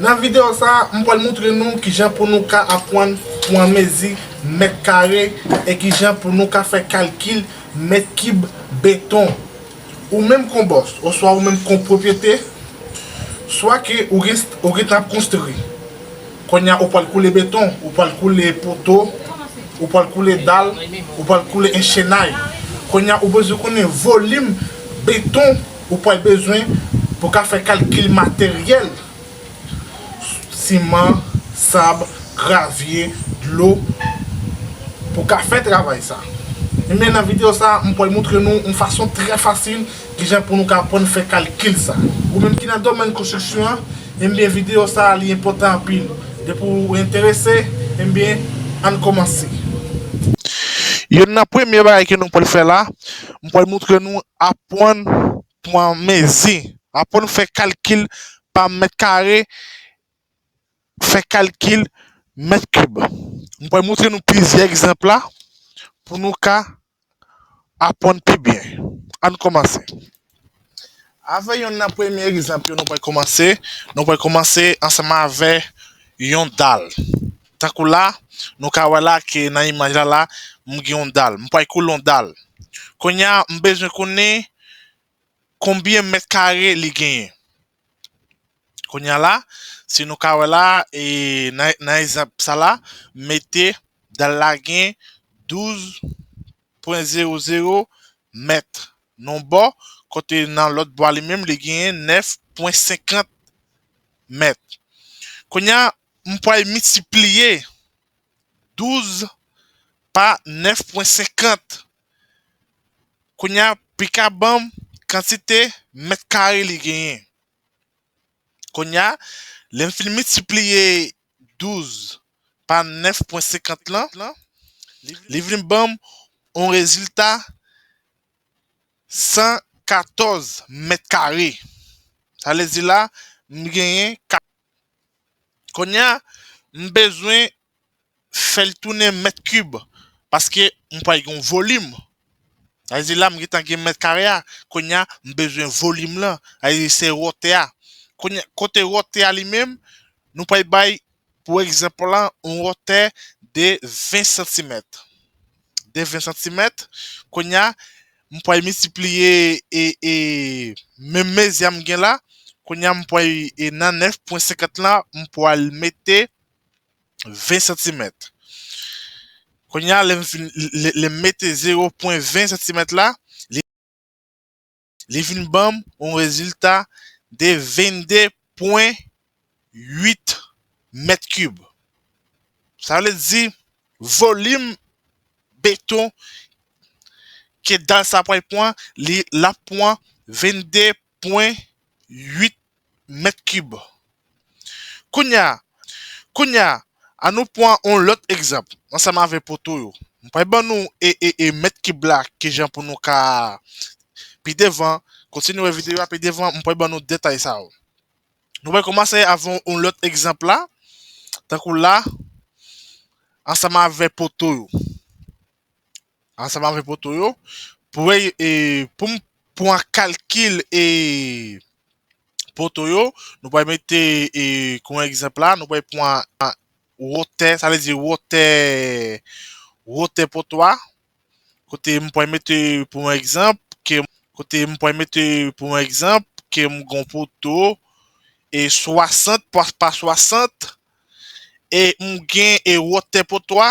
Nan video sa a, m pral moutre nou kijan pou nou ka apwann pwan mezi mèt kare e kijan pou nou ka fè kalkil mèt kib beton. Ou menm kon bòs oswa ou menm kon pwopyete, swa ke ou gen ou gentan ap konstri, konnya ou pwal koule beton, ou pwal koule poto, ou pwal koule dal, ou pwal koule enchenay, konnya ou bezwen konnen volim beton, ou pwal bezwen pou ka fè kalkil materyèl, siman, sab, gravye, dlo, pou ka fè travay sa. Ebyen nan videyo sa m pwal moutre nou yon fason trè fasil kijan pou nou ka apwann fè kalkil sa. Ou menm ki nan domèn konstriksyon an, ebyen videyo sa li enpòtan anpil. Depi w enterese, ebyen ann kòmanse. Youn nan premye bagay ke nou pwal fè la. m pral montre nou apwann pwan mezi, apwann fè kalkil pa mèt kare, fè kalkil mèt kib. M pral montre nou plizyè egzanp la pou nou ka apwann pi byen. Ann kòmanse. Avè yonn nan premye egzanp yo nou pral kòmanse, nou pral kòmanse ansanman avè yon dal. Tankou la, nou ka wè la ke nan imaj la la, m gen yon dal. M pral koule yon dal. Kounye a, m bezwen konnen konbyen mèt kare li genyen. Kounye a la, si nou ka wè la, e nan nan egzanp sa la, mete dal la gen 12 Pwen zewo zewo mèt non bò kote nan lòt bò a li menm li genyen 9 pwen 50 mèt. Kounye a, m pral miltipliye 12 pa 9 pwen 50. Kounye a, pi ka ban m kantite mèt kare li genyen. Kounye a, lè m fin miltipliye 12 pa 9.50 lan, li vin ban m yon rezilta 114 mèt kare. Sa vle di la, m genyen 4. Kounye a, m bezwen fè l tounen mèt kib, paske m pral gen yon volim Sa vle di la m gentan gen mèt kare a, kounye a m bezwen volim lan, sa vle di se wotè a. Kounye a, kote wotè a li menm, nou pral bay pou egzanp lan yon wotè de 20 santimèt. De 20 santimèt, kounye a m pral miltipliye menm mezi a m gen la, kounye a m pral nan 9 pwen 50 lan m pral mete 20 santimèt. Kounye a, lè m fin, lè m mete 0 pwen 20 santimèt la, li, li vin ban m yon rezilta de 22 pwen 8 mèt kib. Sa vle di, volim beton ke dal sa pral pwan, li, l ap pwan 22 pwen uit mèt kib. Kounya kounya an nou pwan on lòt egzanp ansanm avè poto yo. M pwal ban nou e e e mèt kib la kijan pou nou ka pi devan kontinye wè videyo a pi devan m pwal ban nou detay sa yo. Nou pwal koumanse avè on lòt egzanp la tankou la ansanm avè poto yo. Ansanm avèk poto yo. Pou e, e pou m pou an kalkil e poto yo, nou pral mete e kon egzanp la, nou pral pran an wotè, sa vle di wotè wotè poto a. Kote m pral mete pou an egzanp ke kote m pral mete pou an egzanp ke m gon poto e 60 pa 60 e m gen e wotè poto a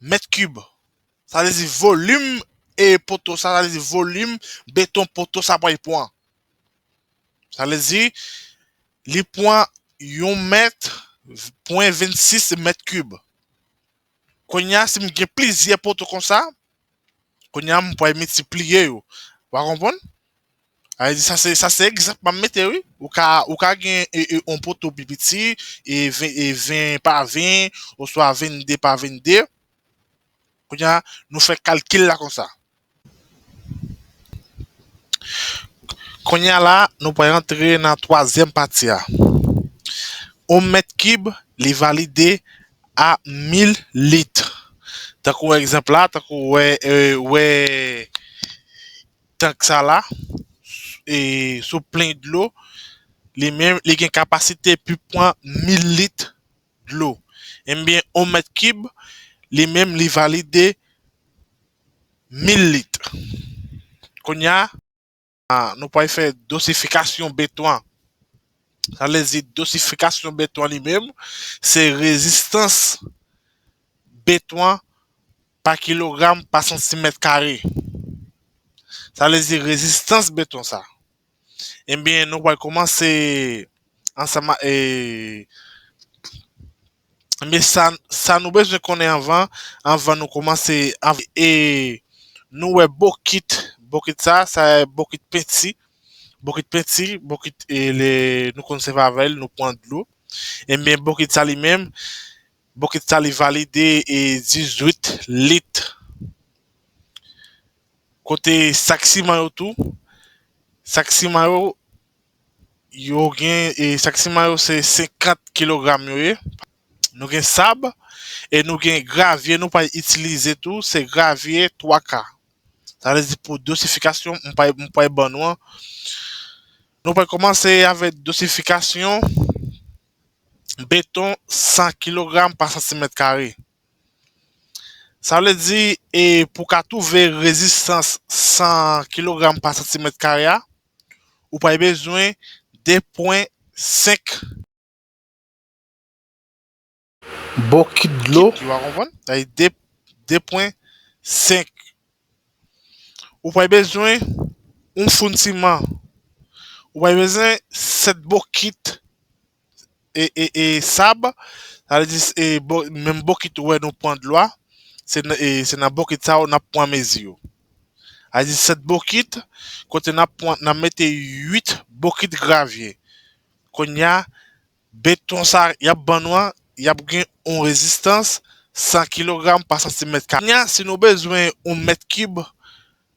mèt kib, sa vle di volim e poto sa, sa vle di volim beton poto sa pral pran. Sa vle di li pran yon mèt pwen 26 mèt kib. Konya si m gen plizyè poto konsa, Kounye a m pral miltipliye yo. Wa konprann? Alè di sa se sa se egzanp m ap mete wi. Ou ka ou ka gen e e on poto pi piti e ven e ven pa ven oswa vennde pa vennde. Kounye a nou fè kalkil la konsa. Kounye a la nou pral rantre nan twazyèm pati a. On mèt kib li valide a 1000 lit. Tankou egzanp la, tankou wè wè tank sa la e sou plen dlo li menm li gen kapasite pou pran 1000 lit dlo. Enbyen yon mèt kib li menm li valide 1000 lit. Kounye a Nou pral fè dosifikasyon beton an. Sa vle di dosifikasyon beton an li menm, se rezistans beton an pa kilogram pa santimèt kare. Sa vle di rezistans beton sa. Enbyen nou pral koumanse ansanm ak Men sa sa nou bezwen konnen anvan anvan nou kòmanse anv e nou wè bokit bokit sa sa bokit penti bokit penti bokit e le nou konn sèvi avèl nou pran dlo enben bokit sa li menm bokit sa li valide e 18 lit kote sak siman yo tou sak siman yo Yo gen e sak siman yo se 50 kilogram yo ye. Nou gen sab e nou gen gravye nou pral itilize tou se gravye 3 ka. Sa vle di pou dosifikasyon m pral m pral ban nou an. Nou pral kòmanse avèk dosifikasyon beton 100 kilogram pa santimèt kare. Sa vle di e pou ka twouve rezistans 100 kilogram pa santimèt kare a. Ou pral bezwen 2.5. Bokit dlo. Ki wa konprann. Sa vle di 2.5. Ou pral bezwen yon foun siman. Ou pral bezwen 7 bokit. e sab, sa vle di e menm bokit ou wè nou pran dlo a, se nan e se nan bokit sa yo n ap pran mezi yo. Sa vle di 7 bokit kote n ap pran n ap mete 8 bokit gravye. Konnya beton sa y ap ban nou an, y ap gen yon rezistans 100 kilogram pa santimèt kare. Konnya si nou bezwen yon mèt kib,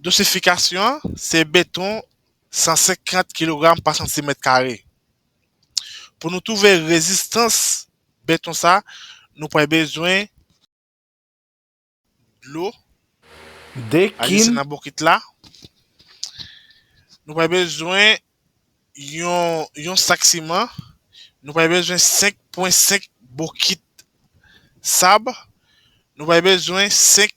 Dosifikasyon an se beton 150 kilogram pa santimèt kare. Pou nou twouve rezistans beton sa nou pral bezwen dlo ajoute nan bokit la. Nou pral bezwen yon sak siman. Nou pral bezwen 5 pwen 5 bokit sab. Nou pral bezwen 5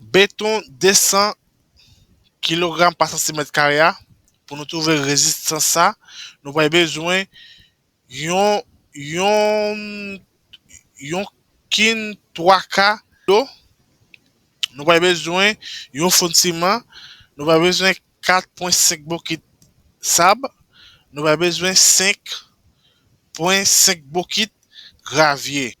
Beton 200 kilogram pa santimèt kare a, pou nou twouve rezistans sa, nou pral bezwen yon yon kin 3 ka dlo, nou pral bezwen yon foun siman, nou pral bezwen 4.5 bokit sab, nou pral bezwen 5.5 bokit gravye.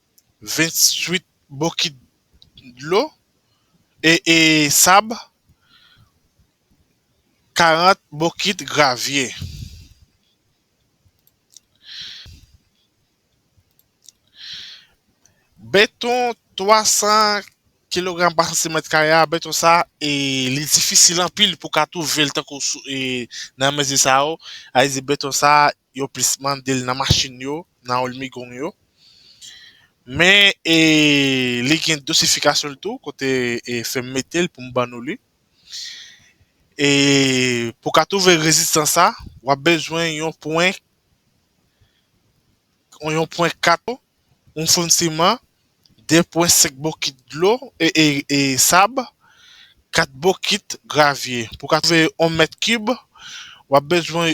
28 bokit dlo e sab, 40 bokit gravye. Beton 300 kilogram pa santimèt kare a, beton sa e li difisil anpil pou ka twouvel tankou nan mezi sa yo, a di beton sa yo plis mande l nan machin yo, nan òlmigong yo. Men e li gen dosifikasyon l tou kote e fè m mete l pou m ban nou li. E pou w ka twouve rezistans sa, w ap bezwen yon pwen yon pwen 4 yon foun siman, 2 pwen 5 bokit dlo e e sab, 4 bokit gravye. Pou w ka twouve yon mèt kib, w ap bezwen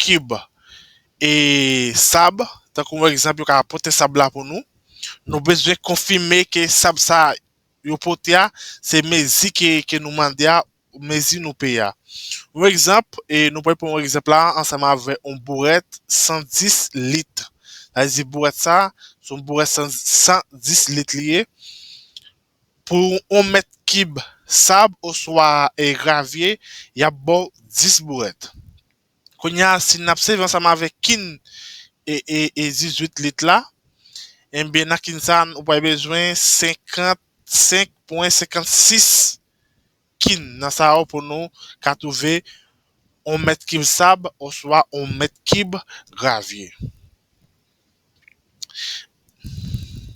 kib e sab, tankou yon egzanp yo ka pote sab la pou nou, nou bezwen konfime ke sab sa yo pote a se mezi ke nou mande a, mezi nou peye a. Yon egzanp, nou pral pran yon egzanp la ansanm avè yon bourèt 110 lit, sa vle di bourèt sa se yon bourèt 110 lit li ye, Pou yon mèt kib sab oswa gravye, y ap ba w 10 bourèt. Kounye a, si n ap sèvi ansanm avèk kin 18 lit la, enben nan kin sa a, ou pral bezwen 55,56 kin. Nan sa yo pou nou ka twouve yon mèt kib sab oswa yon mèt kib gravye.